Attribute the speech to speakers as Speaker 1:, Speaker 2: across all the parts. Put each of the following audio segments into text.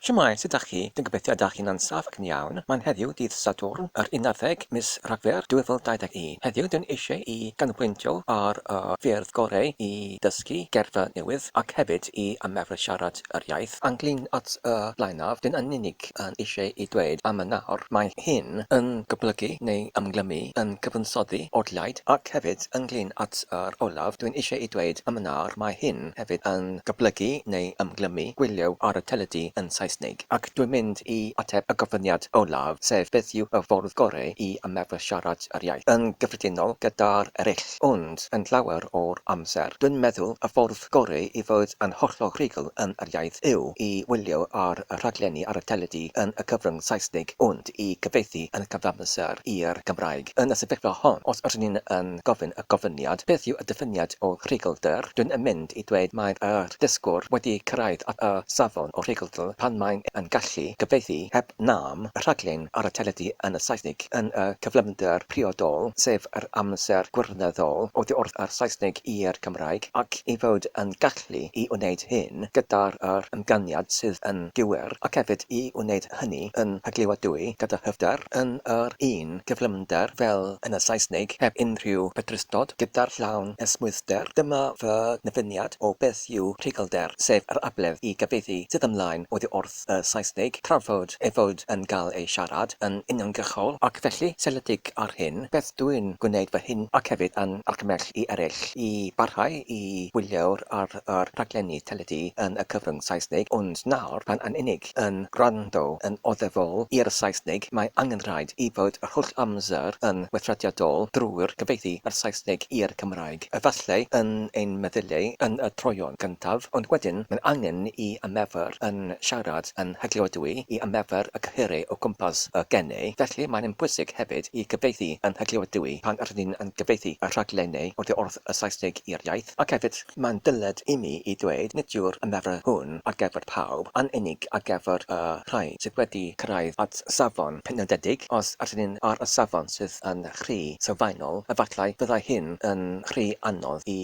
Speaker 1: Shwmae, sut 'dach chi? Dwi'n gobeithio y 'dach chi'n ansawdd ac yn iawn. Mae'n heddiw dydd Sadwrn, yr unarddeg mis Rhagfyr 2021. Heddiw dwi'n eisiau i ganolbwyntio ar y ffyrdd goreu i ddysgu geirfa newydd ac hefyd i ymarfer siarad yr iaith. Ynglyn at y blaenaf, dwi'n yn unig yn eisiau i dweud am y nawr. Mae hyn yn goblygu neu ymglymu, yn cyfansoddi, odlaid, ac hefyd ynglyn at yr olaf, dwi'n eisiau i dweud am y nawr, mae hyn, Siop hefyd yn goblygu neu ymglymu gwylio ar y teledu yn Saesneg. Ac dwi'n mynd i ateb y gofyniad olaf, sef beth yw y ffordd gorau i ymarfer siarad yr iaith? Yn gyffredinol, gyda'r eraill. Ond, yn llawer o'r amser, dwi'n meddwl y ffordd gorau i fod yn hollol rhugl yn yr iaith yw i wylio ar y rhaglenni ar y teledu yn y cyfrwng Saesneg, ond. i gyfieithu yn y cyfamser i'r Gymraeg. Yn y sefyllfa hon, os r'yn ni yn gofyn y gofyniad, beth yw y diffiniad o rhuglder, dwyn yn mynd i dweud mae'r yr dysgwr wedi cyrraedd at y safon o rhuglder pan mae'n yn gallu cyfieithu heb nam y rhaglen ar y teledu yn y Saesneg yn y cyflymder priodol, sef yr amser gwirioneddol oddi wrth yr Saesneg i'r Cymraeg, ac ei fod yn gallu i wneud hyn gyda'r yr ymganiad sydd yn gywir, ac hefyd i wneud hynny yn rhaglioadwy gyda hyfder yn yr un gyflymder fel yn y Saesneg, heb unrhyw bedrustod, gyda'r llawn esmwythder. Dyma fy nyfyniad o beth yw rhuglder, sef yr abledd i gyfieithu sydd ymlaen oddi wrth y Saesneg, tra fod ei fod yn cael ei siarad yn uniongyrchol, ac felly seiliedig ar hyn, beth dwi'n gwneud fy hun ac hefyd yn argymell i eraill i barhau i wylio'r ar yr rhaglenni teledu yn y cyfrwng Saesneg, ond nawr pan yn unig. eraill yn gwrando yn oddefol i'r Saesneg, mae angen rhaid i fod yr holl amser yn weithrediadol drwy'r cyfieithu o'r Saesneg i'r Cymraeg, efallai yn ein meddyliau yn y troeon gyntaf, ond wedyn mae'n angen i ymefer yn siarad yn hygliodwy i ymefer y cyhyrau o gwmpas y genau, felly mae'n bwysig hefyd i gyfieithu yn hygliodwy pan rydyn ni'n cyfieithu y rhaglenau oddi wrth y Saesneg i'r iaith, ac hefyd, mae'n dyled imi i ddweud, nid yw'r ymarfer hwn ar gyfer pawb, yn unig ar gyfer y rhai sydd wedi cyrraedd at safon penodedig, os ydyn ni ar y safon sydd yn rhy sylfaenol, efallai byddai hyn yn rhy anodd i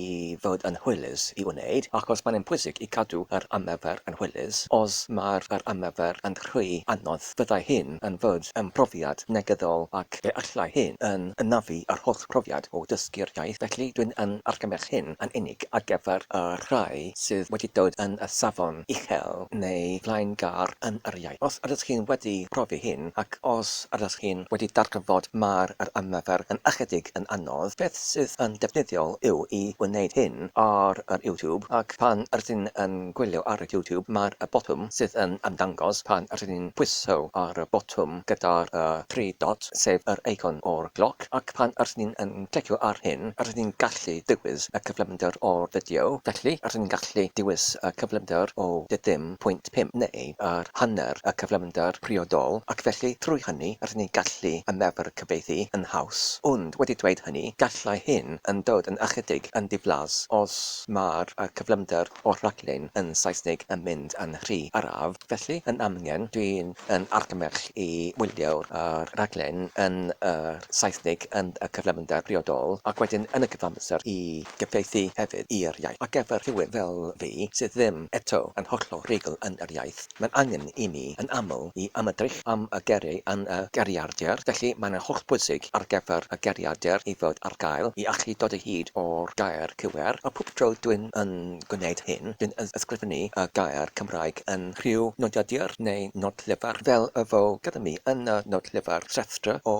Speaker 1: fod yn hwylus i wneud, achos mae'n bwysig i gadw yr ymarfer yn hwylus, os mae'r yr ymarfer yn rhy anodd. Byddai hyn yn fyd ym mhrofiad negyddol ac fe allai hyn yn anafu yr holl brofiad o dysgu'r iaith, felly dwi'n yn argymell hyn yn unig ar gyfer y rhai sydd wedi dod yn y safon uchel neu flaengar yn yr iaith. Os ydych chi'n wedi profi hyn ac os ydych chi'n wedi darganfod mai'r yr ymarfer yn ychydig yn anodd, beth sydd yn defnyddiol yw i wneud hyn ar yr YouTube ac pan rydyn yn gwylio ar YouTube, mae'r botwm sydd yn ymddangos pan rŷn ni'n pwyso ar y botwm gyda'r tri dot, sef yr eicon o'r gloc, ac pan rŷn ni yn clicio ar hyn, rŷn ni'n gallu dewis y cyflymder o'r fideo. Felly, rŷn ni'n gallu dewis y cyflymder o tua 0.5 neu yr hanner y cyflymder priodol, ac felly trwy hynny rŷn ni'n gallu ymarfer cyfieithu yn haws. Ond wedi dweud hynny, gallai hyn yn dod yn ychydig yn ddiflas os mai'r cyflymder o'r rhaglen yn Saesneg yn mynd yn rhy araf, felly yn amgen dwi yn argymell i wylio yr rhaglen yn y Saesneg yn y cyflymder briodol ac wedyn yn y cyfamser i gyfieithu hefyd i'r iaith ar gyfer rhywun fel fi sydd ddim eto yn hollol rhugl yn yr iaith. Mae'n angen i ni yn aml i ymedrych am y geiriau yn y geiriadur, felly mae'n hollbwysig ar gyfer y geiriadur i fod ar gael i allu dod o hyd o'r gair cywir, a phob tro dwi'n yn gwneud hyn, dwi'n ysgrifennu y gair Cymraeg yn rhyw nodiadur neu nodllyfr, fel y fo gyda mi yn y nodllyfr Rhestr o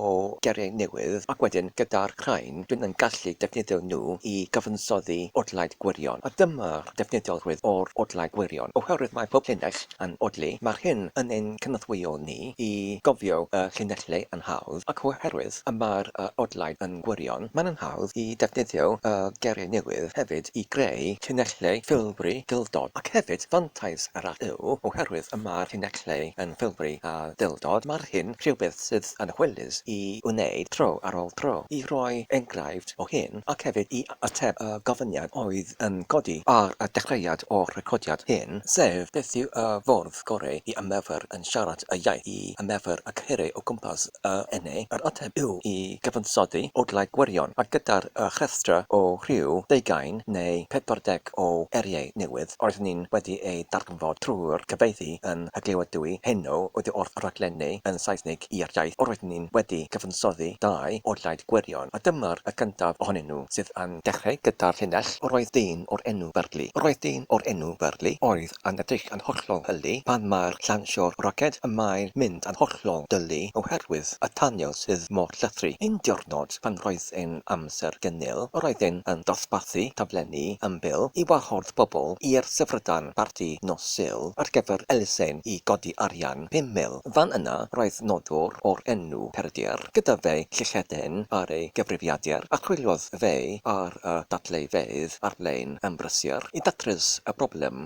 Speaker 1: Geiriau Newydd, ac wedyn gyda'r rhain dwi'n yn gallu defnyddio nhw i gyfansoddi odlaid gwirion, a dyma defnyddiolrwydd o'r odlau gwirion. Oherwydd mae pob llinell yn odli, mae'r hyn yn ein cynorthwyo ni i gofio y llinellau yn hawdd, ac oherwydd y mae'r odlau yn gwirion, mae'n anhawdd i ddefnyddio y geiriau newydd hefyd i greu llinellau ffilbri duldod. Ac hefyd, fantais arall yw, oherwydd y mae'r llinellau yn ffilbri a duldod, mae'r hyn rhywbeth sydd yn hwylus i wneud tro ar ôl tro, i roi enghraifft o hyn, ac hefyd i Ateb y gofyniad oedd yn codi ar y dechreuad o'r recordiad hyn, sef, beth yw y ffordd goreu i ymarfer yn siarad y iaith, i ymarfer y cyhyrau o gwmpas y ene? Yr ateb yw i gyfansoddi odlau gwirion, a gyda'r rhestra o rhyw ddeugain neu pedwar deg o eiriau newydd roeddwn i'n wedi eu darganfod. darganfod trwy'r cyfieithu yn y glywedwy heno ydi wrth raglennu yn Saesnig i'r iaith yr oeddwn i'n wedi cyfansoddi dau o Blaid Gwirion, a dyma'r y gyntaf ohonyn nhw sydd yn dechrau gyda'r llinell 'Yr oedd dyn o'r enw Burley, yr oedd dyn o'r enw Burley, oedd yn edrych yn hollol hylli pan mae'r llawnsio'r roced y mae'n mynd yn hollol dyllu oherwydd y tanio sydd mor llythrw. Un diwrnod pan roedd e'n amser gynil, yr oeddent yn dosbarthu taflenni ymbil i wahodd pobl i'r Syfrdan Barti nos Sul ar gyfer elusen i godi arian pum mil. Fan yna, roedd noddwr o'r enw Peredur gyda fe llychedyn ar ei gyfrifiadur a chwiliodd fe ar y dadleuyfeydd ar-lein yn brysur i ddatrys y broblem.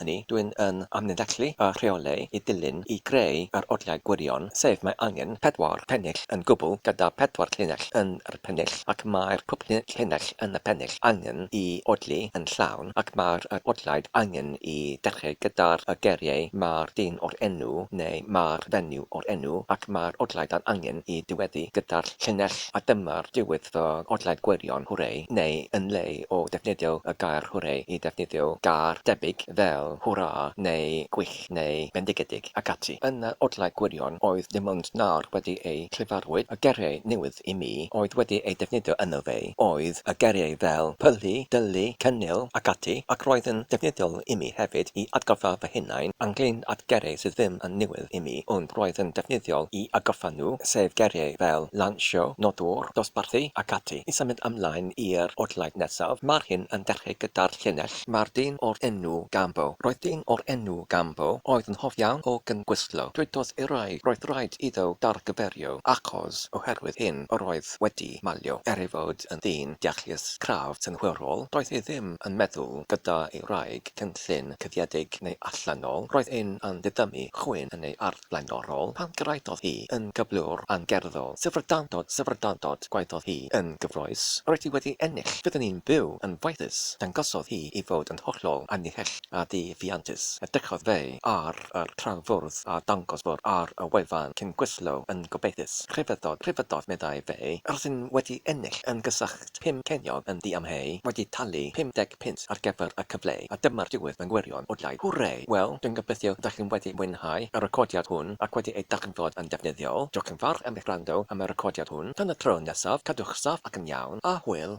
Speaker 1: hynny, dw i'n yn amlinellu a rheoli i ddilyn i greu yr oriau gwirion, sef mae angen pedwar pennill yn gwbl gyda phedwar llinell yn yr pennill ac mae'r pwp llinell yn y pennill angen i odli yn llawn ac mae'r yr odliaid angen i dechreu gyda'r y geiriau mae'r dyn o'r enw neu mae'r fenyw o'r enw ac mae'r odliaid yn angen i diweddu gyda'r llinell A dyma'r diwedd fy nghodled gwirion hwrei, neu yn lle o ddefnyddio y gair hwrei i ddefnyddio gair debyg fel hwrâ neu gwych neu bendigedig ac ati, yn yr odled gwirion oedd dim ond nawr wedi eu llefarwyd y geiriau newydd i mi oedd wedi eu defnyddio yno fe oedd y geiriau fel pylu, dylu, cynnil ac ati ac roedd yn ddefnyddiol i mi hefyd i atgoffa fy hunain ynglŷn at geiriau sydd ddim yn newydd. help imi ond roedd yn defnyddiol i agoffa nhw, sef geiriau fel lansio, nodwr, dosbarthu ac ati. I symud ymlaen i'r odlaid nesaf, mae'r hyn yn dechrau gyda'r llinell. Mae'r dyn o'r enw Gambo. Roedd dyn o'r enw Gambo oedd yn hoff iawn o gyngwystlo. Dwedodd i rai roedd rhaid iddo dargyferio achos oherwydd hyn yr oedd wedi malio. Er ei fod yn ddyn deallus, craff, synhwyrol, doedd e ddim yn meddwl gyda'i wraig cyn llun cuddiedig neu allanol, roedd un yn didymu chwyn yn ei ardd blaenorol, pan gyrhaeddodd hi yn gyflwr angerddol, syfrdandod, syfrdandod, gwaeddodd hi yn gyffrous, roedd hi wedi ennill, byddwn i'n byw yn faethus, dangosodd hi ei fod yn hollol annihell a di-ffiantus, edrychodd fe ar yr traw fwrdd a dangos bwrdd ar y wefan cyn gwislo yn gobeithus, rhyfeddodd, rhyfeddodd, meddai fe, rydyn wedi ennill yn gysach. Bydd pum ceiniog yn ddiamheu wedi talu 50 punt ar gyfer y cyfle a dyma'r diwedd mewn gwirion o blaid Hwrê! Wel, dwi'n gobeithio ydych chi'n wedi mwynhau y recordiad hwn ac wedi ei darganfod yn defnyddiol. Diolch yn fawr am eich gwrando am y recordiad hwn. Tan y tro nesaf, cadwch saff ac yn iawn, a hwyl!